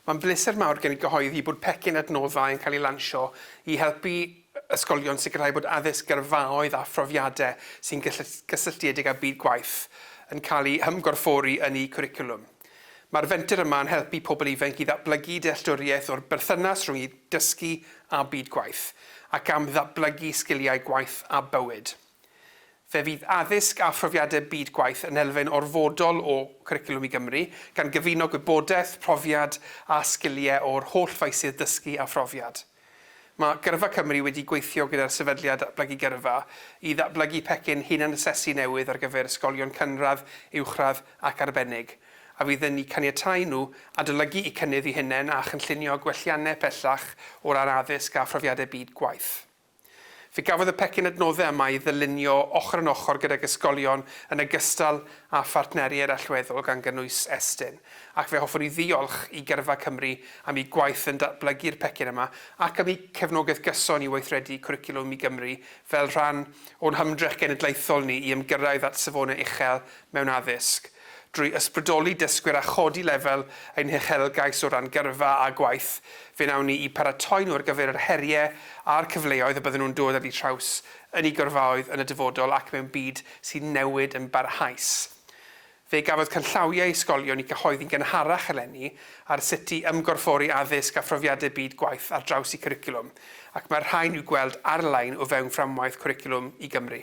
Mae'n bleser mawr gen i gyhoeddi bod pecyn adnoddau yn cael ei lansio i helpu ysgolion sicrhau bod addysg gyrfaoedd a phrofiadau sy'n gysylltiedig â byd gwaith yn cael eu hymgorffori yn eu cwricwlwm. Mae'r fenter yma yn helpu pobl ifainc i ddatblygu dealltwriaeth o'r berthynas rhwng eu dysgu a byd gwaith, ac am ddatblygu sgiliau gwaith a bywyd. Fe fydd addysg a phrofiadau byd gwaith yn elfen orfodol o Cwricwlwm i Gymru, gan gyfuno gwybodaeth, profiad a sgiliau o'r holl faesydd dysgu a phrofiad. Mae Gyrfa Cymru wedi gweithio gyda'r Sefydliad Datblygu Gyrfa i ddatblygu pecyn hunan-asesu newydd ar gyfer ysgolion cynradd, uwchradd ac arbennig, a fydd yn eu caniatáu nhw adolygu'u cynnydd eu hunain a chynllunio gwelliannau pellach o ran addysg a phrofiadau byd gwaith. Fe gafodd y pecyn adnoddau yma ei ddylunio ochr yn ochr gydag ysgolion yn ogystal â phartneriaid allweddol gan gynnwys Estyn, ac fe hoffwn i ddiolch i Gyrfa Cymru am eu gwaith yn datblygu'r pecyn yma ac am eu cefnogaeth gyson i weithredu Cwricwlwm i Gymru fel rhan o'n hymdrech genedlaethol ni i ymgyrraedd at safonau uchel mewn addysg, drwy ysbrydoli dysgwyr a chodi lefel ein huchelgais o ran gyrfa a gwaith fe wnawn ni i paratoi nhw ar gyfer yr heriau a'r cyfleoedd y bydden nhw'n dod ar eu traws yn eu gyrfaoedd yn y dyfodol ac mewn byd sy'n newid yn barhaus. Fe gafodd canllawiau ysgolion i gyhoeddi'n gynharach eleni ar sut i ymgorffori addysg a phrofiadau byd gwaith ar draws eu cwricwlwm, ac mae'r rhain i'w gweld ar-lein o fewn fframwaith Cwricwlwm i Gymru.